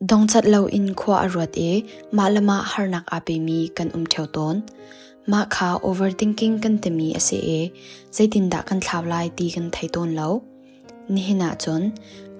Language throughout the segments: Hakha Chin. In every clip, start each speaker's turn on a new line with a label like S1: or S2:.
S1: Dongcat loin khua a ruat i mah le mah harnak aa pemi kan um ṭheo tawn. Mah kha overthinking kan timi a si i zeitindah kan thlau lai ti kan thei tawn lo. Nihin ahcun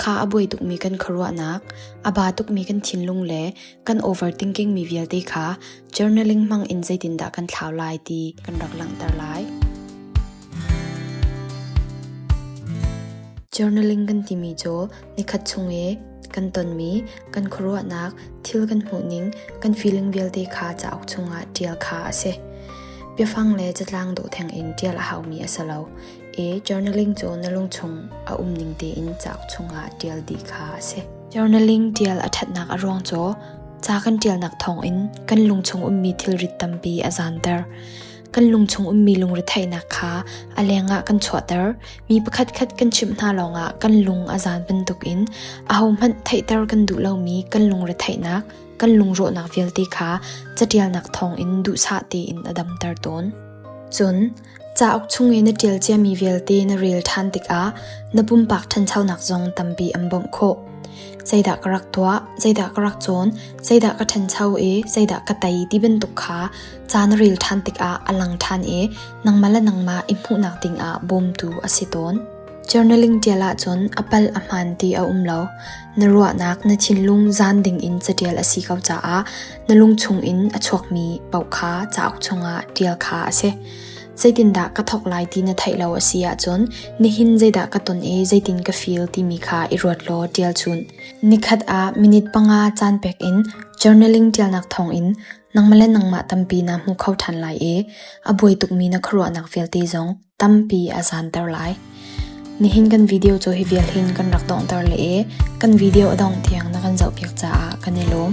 S1: kha a buai tukmi kan khuaruahnak, a ba tukmi kan thinlung le kan overthinking mi vialte kha journaling hmang in zeitindah kan thlau lai ti kan rak langhter lai. Journaling kan timi cu Nikhat chung i kan tonmi kan khuaruahnak, thil kan hmuhning, kan feeling vialte kha cauk chungah ṭial kha a si. Biafang le catlang dawh thengin ṭial a haumi a si lo i journaling cu na lung chung a um ning tein cauk chungah ṭial dih kha a si. Journaling ṭial a ṭhatnak a ruang cu ca kan ṭialnak thawngin kan lung chung ummi thilrit tampi a zanter. Kan lungchung ummi lungretheihnak kha a lengah kan chuahter. Mi pakhatkhat kan chimh hna lawngah kan lung a zan bantukin ahohmanh theihter kan duh lomi kan lungretheihnak, kan lungrawhnak vialte kha catialnak thawngin duhsah tein a damter tawn. Cun cauk chung i na ṭial ciami vialte na rel ṭhan tikah na pumpak ṭhanchonak zong tampi an bawmh khawh. Zeidah ka rak tuah, zeidah ka rak cawn, zeidah ka ṭhancho i zeidah ka tei ti bantuk kha Caan ril ṭhan tikah a lang ṭhan i nangmah le nangmah i hmuhnak dingah bawmtu a si tawn. Journaling ṭial ahcun a pal a hmaan ti a um lo. Na ruahnak na thinlung zan dingin caṭial a si ko caah na lungchung in a chuakmi paoh kha cauk chungah ṭial kha a si. Zeitindah ka thawk lai ti na theih lo a si ahcun nihin zeidah ka ton i zeitin ka feel timi kha i ruat law ṭial chun. Nikhat ah minute panga caan pek in journaling ṭialnak thawngin Nangmah le nangmah tampi naa hmu kho ṭhan lai i a buai tukmi na khuaruahnak vialte zong tampi a zaanter lai. Nihin kan video cu hi vial hin kan rak donghter le i kan video a dongh tiang na kan zohpiak caah kan i lawm.